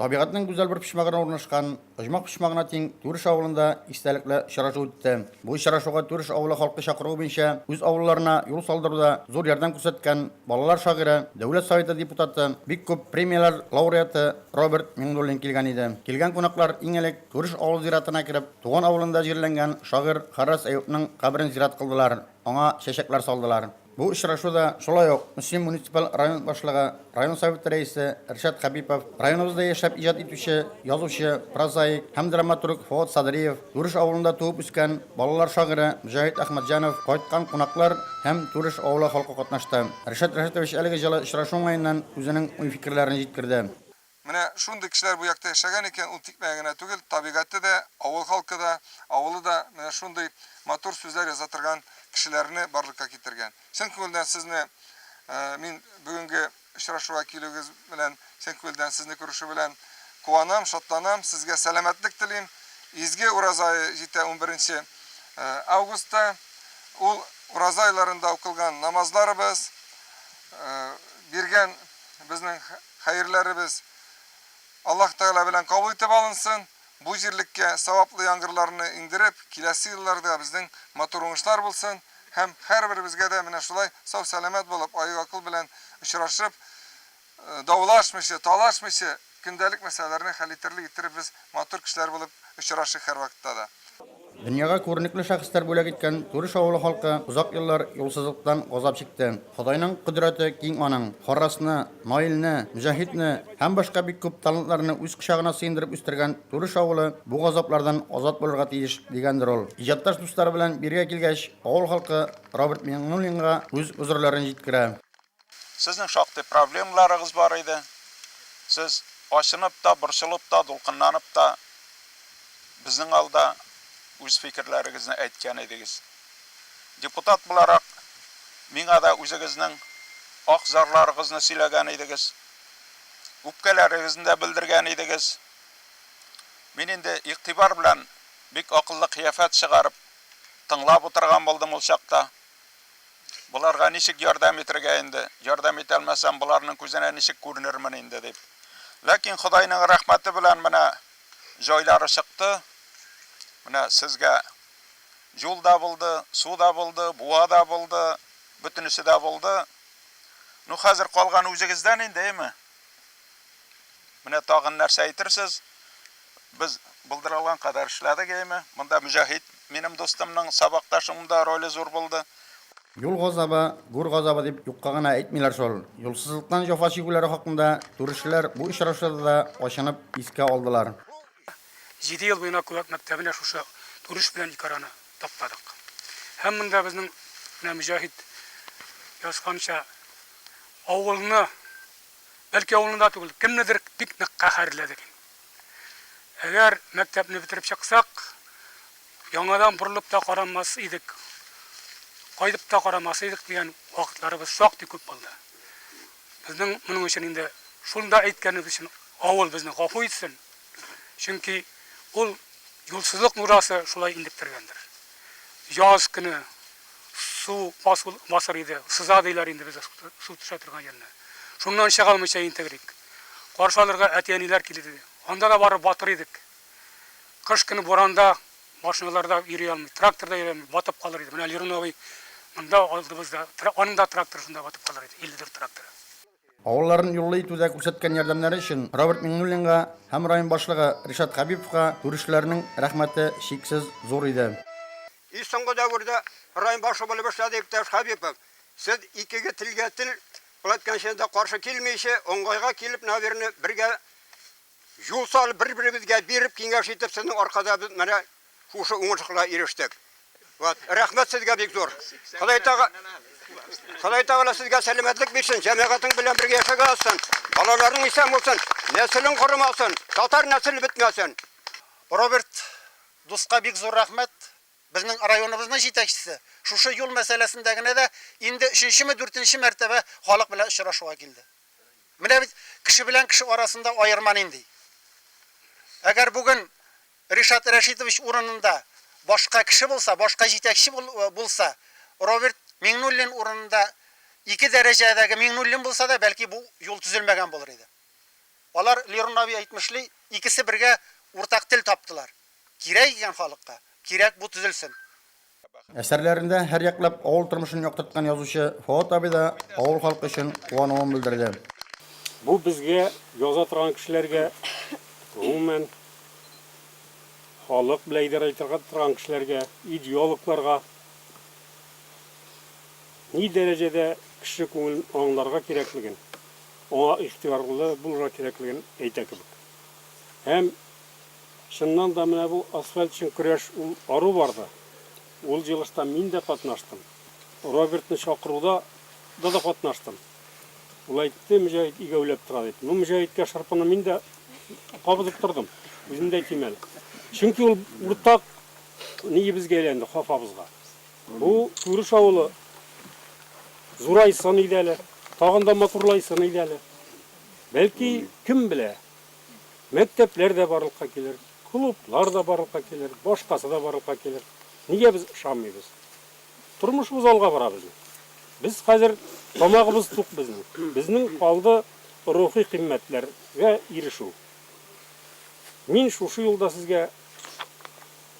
Табигатьнең гүзәл бер почмагына урнашкан Оҗмах почмагына тиң Түреш авылында истәлекле очрашу үтте. Бу очрашуга Түреш авылы халкы чакыруы буенча үз авылларына юл салдыруда зур ярдәм күрсәткән балалар шагыйре, Дәүләт Советы депутаты, бик күп премияләр лауреаты Роберт Миңнуллин килгән иде. Килгән кунаклар иң элек Түреш авыл зиратына кереп, туган авылында җирләнгән шагыйрь Харрас Әюпнең каберен зират кылдылар, аңа чәчәкләр салдылар. Бу очрашуда шулай ук Мөслим муниципаль район башлыгы, район Советы рәисе Ришат Хәбипов, районыбызда яшәп иҗат итүче язучы, прозаик һәм драматург Фоат Садриев, Түреш авылында туып үскән балалар шагыйре Мөҗәһит Әхмәтҗанов, кайткан кунаклар һәм Түреш авылы халкы катнашты. Ришат Рәшәтович әлеге җылы очрашу уңаеннан үзенең уй-фикерләрен җиткерде. Менә шундый кешеләр бу якта яшәгән икән, ул тикмәгә генә түгел, табигате дә, авыл халкы да, авылы да менә шундый матур сүзләр яза торган кешеләрне барлыкка китергән. Чын күңелдән сезне мин бүгенге очрашуга килүегез белән, чын күңелдән сезне күрешү белән куанам, шатланам. Сезгә сәламәтлек телим. Изге ураза ае җитә унберенче августта. Ул ураза айларында укылган намазларыбыз, биргән безнең Хәерләребез Аллаһ Тәгалә белән кабул итеп алынсын, бу җирлеккә саваплы яңгырларны иңдереп, киләсе елларда безнең матур уңышлар булсын һәм һәрберебезгә дә менә шулай сау-сәламәт булып, аек-акыл белән очрашып, даулашмыйча, талашмыйча, көндәлек мәсьәләләрне хәл итерлек иттереп без матур кешеләр булып очрашыйк һәрвакытта да. Дөньяга күренекле шәхесләр бүләк иткән Түреш авылы халкы озак еллар юлсызлыктан газап чикте. Ходайның кодрәте киң аның. Харрасны, Наилне, Мөҗәһитне һәм башка бик күп талантларны үз кочагына сыендырып үстергән Түреш авылы бу газаплардан азат булырга тиеш, дигәндер ул. Иҗатташ дуслары белән биргә килгәч, авыл халкы Роберт Миңнуллинга үз гозерләрен җиткерә. Сезнең шактый проблемаларыгыз бар иде. Сез ачынып та, борчылып та, дулкынланып та безнең алда үз фикерләрегезне әйткән идегез. Депутат буларак, миңа да үзегезнең ак зарларыгызны сөйләгән идегез. Үпкәләрегезне дә белдергән идегез. Мин инде игътибар белән бик акыллы кыяфәт чыгарып тыңлап утырган булдым ул чакта. Боларга ничек ярдәм итергә инде? Ярдәм итә алмасам, боларның күзенә ничек күренермен инде, дип. Ләкин Ходайның рәхмәте белән менә җайлары чыкты. Менә сезгә юл да булды, су да булды, буа да булды, бөтенесе дә булды. Ну, хәзер калган үзегездән инде, әйме? Менә тагын нәрсә әйтерсез? Без булдырылган кадәр эшләдек, әйме. Монда Мөҗәһит, минем дустымның сабакташым да роле зур булды. Юл газабы, гүр газабы дип юкка гына әйтмиләр шул. Юлсызлыктан җәфа чигүләре хакында түрешчеләр бу очрашуда да ачынып искә алдылар. Җиде ел буена Күбәк мәктәбенә шушы турыш белән ике араны таптадык. Һәм монда безнең менә Мөҗәһит язганча, авылны, бәлки авылны да түгел, кемнедер бик нык каһәрләдек инде. Әгәр мәктәпне бетереп чыксак, яңадан борылып та карамас идек, кайтып та карамас идек дигән вакытларыбыз шактый күп булды. Безнең моның өчен инде шунда әйткәнебез өчен авыл безне гафу итсен, чөнки ул юлсызлык нурасы шулай интектергәндер. Яз көне. Су аз басыр иде, сыза диләр инде бездә су төшә торган җирне. Шуннан чыга алмыйча интегрик. Каршы алырга әти-әниләр килер иде. Анда да барып батыр идек. Кыш көне буранда машиналар да йөри алмый, трактор да йөри алмый, батып калыр иде. Менә Лерун абый монда алдыбызда, аның да тракторы шунда батып калыр иде, 54 тракторы. Авылларын юллый итүдә күрсәткән ярдәмнәре өчен Роберт Миңнуллинга һәм район башлыгы Ришат Хәбиповка күршеләрнең рәхмәте чиксез зур иде. И соңгы дәвердә район башлыгы булып эшләде, иптәш Хәбипов. Сез икеге телгә тел, шулай иткәнче дә каршы килмичә, уңгайга килеп, наверное, бергә Юл салып, бер-беребезгә биреп, киңәш итеп, сезнең аркада без менә шушы уңышларга ирештек. Вот. Рәхмәт сезгә бик зур. Ходай тага Ходай Тагала сезгә сәламәтлек бирсен, җәмәгатең белән бергә яшәгә алсын. Балаларың исән булсын, нәселең корымасын, татар нәселе бетмәсен. Роберт дуска бик зур рәхмәт. Безнең районыбызның җитәкчесе шушы юл мәсьәләсендә генә дә инде өченчеме, дүртенче мәртәбә халык белән очрашуга килде. Менә бит кеше белән кеше арасында аерма нинди. Әгәр бүген Ришат Рәшитович урынында башка кеше булса, башка җитәкче булса, Роберт Миңнуллин урынында ике дәрәҗәдәге Миңнуллин булса да, бәлки бу юл төзелмәгән булыр иде. Алар, Лерон абый әйтмешли, икесе бергә уртак тел таптылар. Кирәк икән халыкка, кирәк бу төзелсен. Әсәрләрендә һәрьяклап авыл тормышын яктырткан язучы Фоат абый да авыл халкы өчен куануын белдерде. Бу безгә, яза торган кешеләргә, гомумән, халык белән идарә итә торган кешеләргә, идеологларга ни дәрәҗәдә кеше күңелен аңларга кирәклеген, аңа игътибарлы булырга кирәклеген әйтә кебек. Һәм. Чыннан да, менә бу асфальт өчен көрәш ул ару барды. Ул җылышта мин дә катнаштым. Робертны чакыруда да да катнаштым. Ул әйтте, Мөҗәһит игәүләп тора дип. Ну, Мөҗәһиткә шырпыны мин дә кабызып тордым. Үзем дә әйтим әле. Чөнки ул уртак ниебезгә әйләнде, хафабызга. Бу Күреш авылы зурайсын иде әле, тагын да матурлайсын иде әле. Бәлки, кем белә, Мәктәпләр дә барлыкка килер, клублар да барлыкка килер, башкасы да барлыкка килер. Нигә без ышанмыйбыз? Тормышыбыз алга бара безнең. Без хәзер тамагыбыз тук безнең. Безнең калды рухи кыйммәтләргә ирешү. Мин шушы юлда сезгә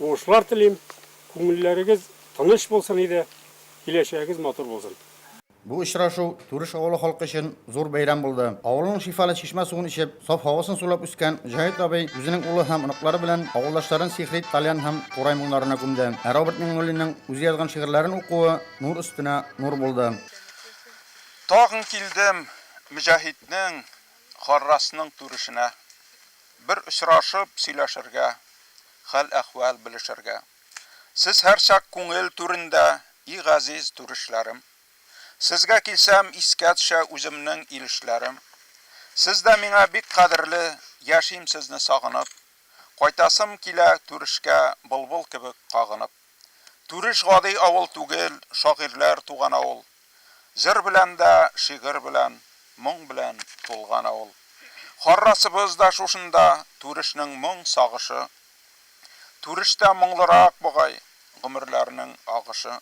уңышлар телим, күңелләрегез тыныч булсын иде, киләчәгегез матур булсын. Бу очрашу Түреш авылы халкы өчен зур бәйрәм булды. Авылның шифалы чишмә суын эчеп, саф һавасын сулап үскән Җаһит абый үзенең улы һәм оныклары белән авылдашларын сихри тальян һәм курай моңнарына күмде. Ә Роберт Миңнуллинның үзе язган шигырьләрен укуы нур өстенә нур булды. Тагын килдем Мөҗәһитнең, Гаррасның түрешенә. Бер очрашып сөйләшергә, хәл-әхвәл белешергә. Сез һәрчак күңел түрендә, И газиз түрешләрем. Сезгә килсәм, искә төшә Үземнең илешләрем. Сез дә миңа бик кадерле, Яшим сезне сагынып. Кайтасым килә Түрешкә Былбыл кебек кагынып. Түреш гади авыл түгел, Шагыйрьләр туган авыл. Җыр белән дә, шигырь белән, моң белән тулган авыл. Харрасыбыз да шушында, Түрешнең моң сагышы. Түрештә моңлырак бугай, гомерләрнең агышы.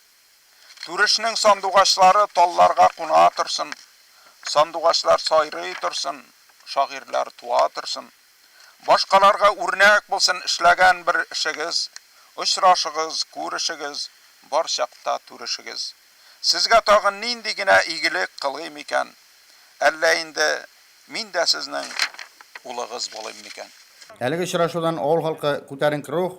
Түрешнең сандугачлары талларга куна торсын, Сандугачлар сайрый торсын, шагыйрьләр туа торсын. Башкаларга үрнәк булсын эшләгән бер эшегез, Очрашыгыз, күрешегез, бар чакта түрешегез. Сезгә тагын нинди генә игелек кылыйм икән? Әллә инде мин дә сезнең улыгыз булыйм микән? Әлеге очрашудан авыл халкы күтәренке рух,